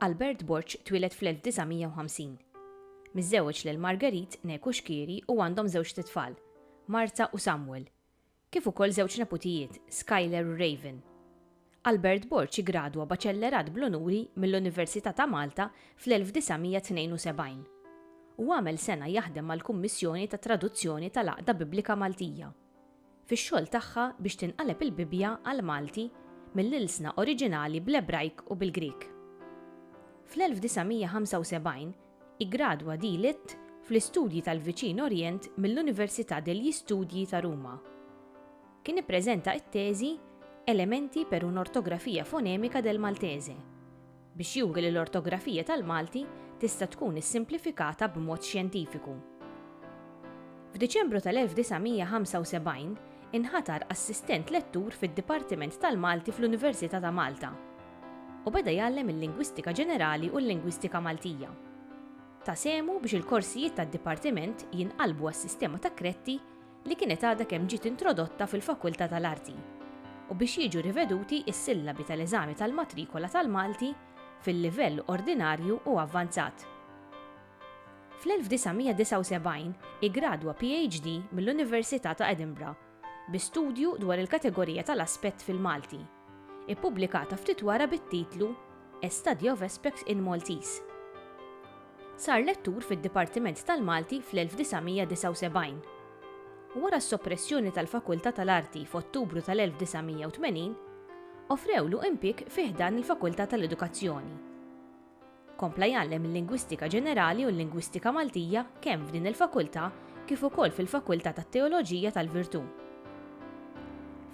Albert Borg twieled fl-1950. Miżżewġ lil Marguerite Neku Xkieri u għandhom żewġt itfal, Marta u Samuel, kif ukoll żewġ neputijiet, Skyler u Raven. Albert Borg iggradwa baċellerat bl-unuri mill-Università ta' Malta fl-1972 u għamel sena jaħdem mal-Kummissjoni tat-Traduzzjoni tal-Għaqda Biblika Maltija fix-xogħol tagħha biex tinqaleb il-Bibbja għall-Malti mill-ilsna oriġinali bl-Ebrajk u bil-Grieg. Fl-1975 Iggradwa dLitt fl-Istudji tal-Viċin Orjent mill-Università degli Studi ta' Ruma. Kien ippreżenta t-teżi Elementi per un'ortografia fonemika del Maltese biex juri li l-ortografija tal-Malti tista' tkun issimplifikata b'mod xjentifiku. F'Diċembru tal-1975 inħatar assistent lettur fid-Dipartiment tal-Malti fl-Università ta' Malta. u beda jgħallem il-Lingwistika Ġenerali u l-Lingwistika Maltija. Ta sehmu biex il-korsijiet tad-Dipartiment jinqalbu għas-sistema ta' kretti li kienet għadha kemm ġiet introdotta fil-Fakulta tal-Arti u biex jiġu riveduti s-sillabi tal-eżami tal-matrikola tal-Malti fil-livell ordinarju u avvanzat. Fl-1979 iggradwa PhD mill-Università ta' Edinburgh bi studju dwar il-kategorija tal-aspett fil-Malti, ippubblikata ftit wara bit-titlu A Study of Aspects in Maltese. Sar lettur fid-Dipartiment tal-Malti fl-1979. Wara s-soppressjoni tal-Fakultà tal-Arti f'Ottubru tal-1980, offrewlu impjieg fi ħdan il-Fakultà tal-Edukazzjoni. Kompla jgħallem il-Lingwistika Ġenerali u l-Lingwistika Maltija kemm f'din il-Fakultà kif ukoll fil-Fakultà tat-Teoloġija tal-Virtù.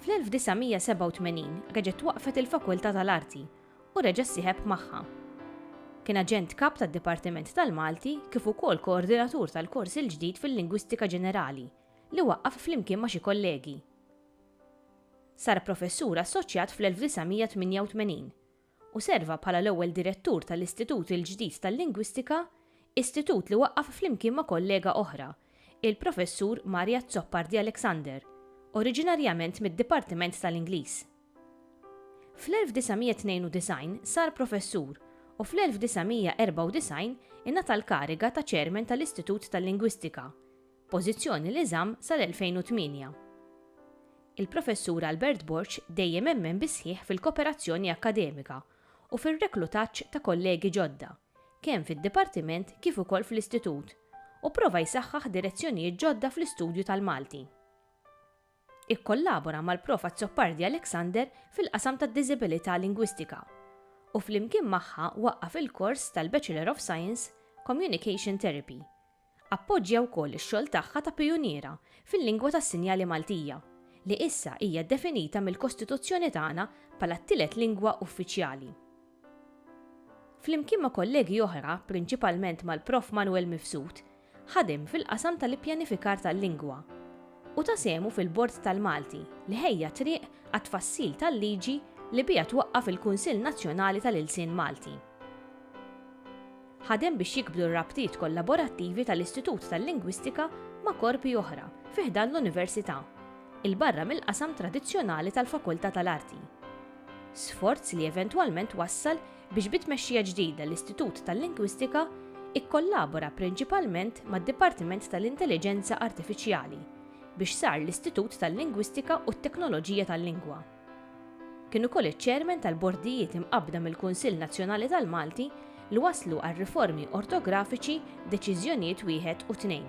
Fl-1987 reġgħet twaqqfet il-Fakultà tal-Arti u reġa' ssieħeb magħha. Kien Aġent Kap tad-Dipartiment tal-Malti kif ukoll Koordinatur tal-kors il-ġdid fil-Lingwistika Ġenerali li waqqaf flimkien ma' xi kollegi. Sar Professur Assoċjat fl-1988 u serva bħala l-ewwel direttur tal-Istitut il-ġdid tal-Lingwistika, istitut li waqqaf flimkien ma' kollega oħra, il-Professur Mario Azzopardi Alexander, oriġinarjament mid-Dipartiment tal-Ingliż. Fl-1992 sar professur u fl-1994 ingħata l-kariga ta' Chairman tal-Istitut tal-Lingwistika, pożizzjoni li żamm sal-2008. Il-Professur Albert Borg dejjem emmen bis-sħiħ fil-koperazzjoni akkademika u fir-reklutaġġ ta' kollegi ġodda, kemm fid-Dipartiment kif ukoll fl-Istitut, u prova jsaħħaħ direzzjonijiet ġodda fl-istudju tal-Malti. Ikkollabora mal-Prof Azzopardi Alexander fil-qasam tad-Diżibilità Lingwistika u flimkien magħha waqqaf il-kors tal-Bachelor of Science, Communication Therapy. Appoġġja wkoll ix-xogħol tagħha ta' pijuniera fil-lingwa tas-sinjali Maltija, li issa hija definita mill-Kostituzzjoni tagħna bħala t-tielet lingwa uffiċjali. Flimkien ma' kollegi oħra, prinċipalment mal-Prof. Manwel Mifsud, ħadem fil-qasam tal-ippjanifikar tal-lingwa u ta sehmu fil-Bord tal-Malti li ħejja t-triq għat-tfassil tal-liġi li biha twaqqaf il-Kunsill Nazzjonali tal-Ilsien Malti. Ħadem biex jikbru r-rabtiet kollaborattivi tal-Istitut tal-Lingwistika ma' korpi oħra fi ħdan l-Università, 'il barra mill-qasam tradizzjonali tal-Fakultà tal-Arti. sforz li eventwalment wassal biex bi tmexxija ġdida l-Istitut tal-Lingwistika kkollabora prinċipalment mad-Dipartiment tal-Intelliġenza Artifiċjali biex sar l-Istitut tal-Lingwistika u t-Teknoloġija tal-Lingwa. Kien ukoll iċ-Chairman tal-Bordijiet imqabbda mill-Kunsill Nazzjonali tal-Malti li wasslu għar-riformi ortografiċi Deċiżjonijiet Wieħed u Tnejn.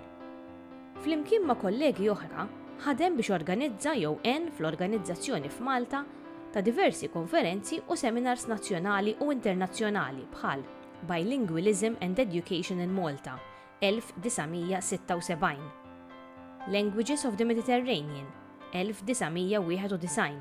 Flimkien ma' kollegi oħra, ħadem biex organizza jew għen fl-organizzazzjoni f'Malta ta' diversi konferenzi u seminars nazzjonali u internazzjonali bħal Bilingualism and Education in Malta, 1976, Languages of the Mediterranean, 1991,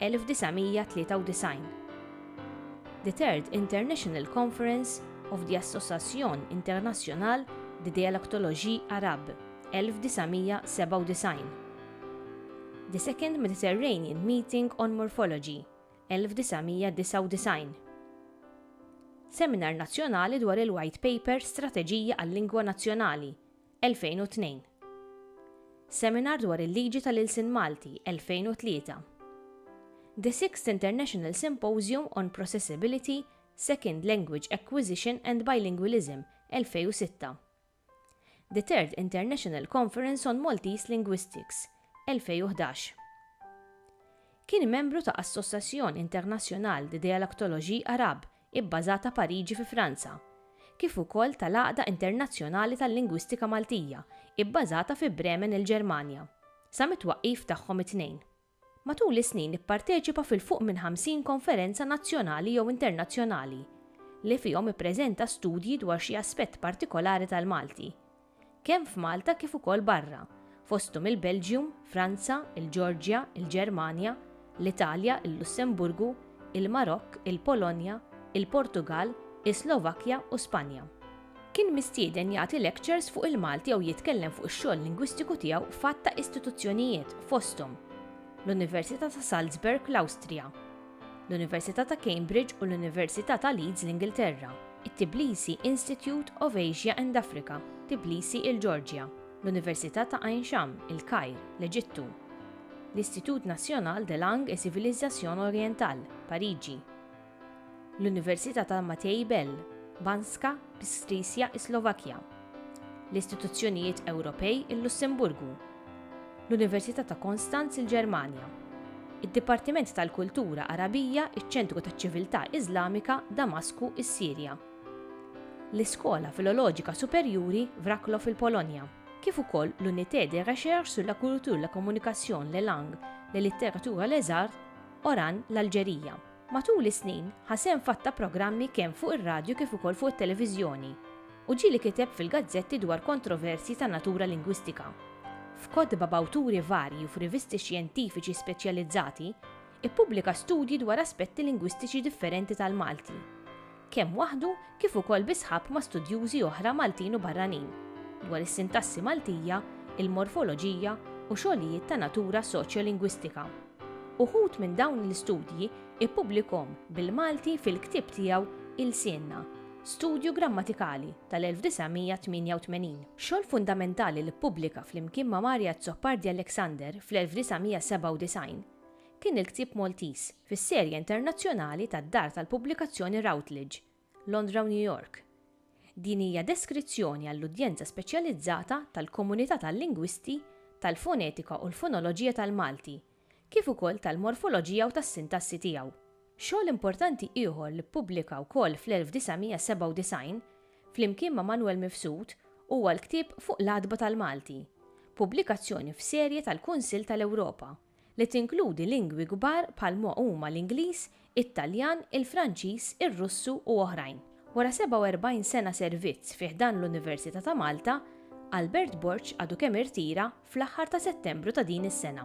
1993 The Third International Conference of the Association Internationale de Dialectologie Arabe, 1997 The Second Mediterranean Meeting on Morphology, 1999 Seminar Nazzjonali dwar il-White Paper Strateġija għal-Lingwa Nazzjonali, 2002. Seminar dwar il-Liġi tal-Ilsien Malti, 2003. The Sixth International Symposium on Processability, Second Language Acquisition and Bilingualism, 2006. The Third International Conference on Maltese Linguistics, 2011. Kien membru ta' Association Internationale de Dialectologie Arabe, ibbażata Pariġi fi Franza, kif ukoll tal-Għaqda Internazzjonali tal-Lingwistika Maltija, ibbażata fi Bremen il-Ġermanja, sa mit-twaqqif tagħhom it-tnejn. Matul is-snin ipparteċipa fil-fuq minn 50 konferenza nazzjonali jew internazzjonali li fihom ippreżenta studji dwar xi aspett partikolari tal-Malti. kemm f'Malta kif ukoll barra, fosthom il-Belġium, Franza, il-Ġeorġja, il-Ġermanja, l-Italja, il-Lussemburgu, il-Marokk, il-Polonja, il-Portugall, is-Slovakkja u Spanja. Kien mistieden jagħti lectures fuq il-Malti jew jitkellem fuq ix-xogħol lingwistiku tiegħu f'għadd ta' istituzzjonijiet, fosthom, l-Università ta' Salzburg, l-Awstrija, l-Università ta' Cambridge u l-Università ta' Leeds l-Ingilterra, it-Tbilisi Institute of Asia and Africa, Tbilisi il-Ġeorġja, l-Università ta' Ain Sham, il-Kajr, l-Eġittu, l-Institut National des Langues et Civilisations Orientales, Pariġi, l-Università ta' Matei Bell, Banská Bystrica is-Slovakkja, l-istituzzjonijiet Ewropej il-Lussemburgu, l-Università ta' Konstanz il-Ġermanja, id-Dipartiment tal-Kultura Għarabija iċ-Ċentru taċ-Ċiviltà Iżlamika Damasku s-Sirja, l-Iskola Filoloġika Superjuri Wroclaw il-Polonja, kif ukoll l-Unité de Recherche sur la Culture, la Communication, les Langues, les Littératures et les Arts, Oran l-Alġerija. Matul is-snin, ħa sehem f'għadd ta' programmi kemm fuq ir-radju kif ukoll fuq it-televiżjoni, u ġieli kiteb fil-gazzetti dwar kontroversji ta' natura lingwistika. F'kotba b'awturi varji u f'rivisti xjentifiċi speċjalizzati, ippubblika studji dwar aspetti lingwistiċi differenti tal-Malti. kemm waħdu kif ukoll bi sħab ma' studjużi oħra Maltin u barranin, dwar is-sintassi Maltija, il-morfoloġija u xogħlijiet ta' natura soċjolingwistika. Uħud minn dawn l-istudji ippubblikahom bil-Malti fil-ktieb tiegħu Ilsienna, Studju Grammatikali tal-1988. Xogħol fundamentali li ppubblika flimkien ma' Mario Azzopardi Alexander fl-1997 kien il-ktieb Maltiż fis-serje internazzjonali tad-dar tal-pubblikazzjoni Routledge, Londra u New York. Din hija deskrizzjoni għall-udjenza speċjalizzata tal-komunità tal-lingwisti tal-fonetika u l-fonoloġija tal-Malti, kif ukoll tal-morfoloġija u tas-sintassi tiegħu. Xogħol importanti ieħor li ppubblika wkoll fl-1997, flimkien ma' Manwel Mifsud, huwa l-ktieb Fuq l-Għatba tal-Malti, pubblikazzjoni f'serje tal-Kunsill tal-Ewropa, li tinkludi lingwi kbar bħal ma huma l-Ingliż, it-Taljan, il-Franċiż, ir-Russu u oħrajn. Wara 47 sena servizz fi ħdan l-Università ta' Malta, Albert Borg għadu kemm irtira fl-aħħar ta' Settembru ta' din is-sena.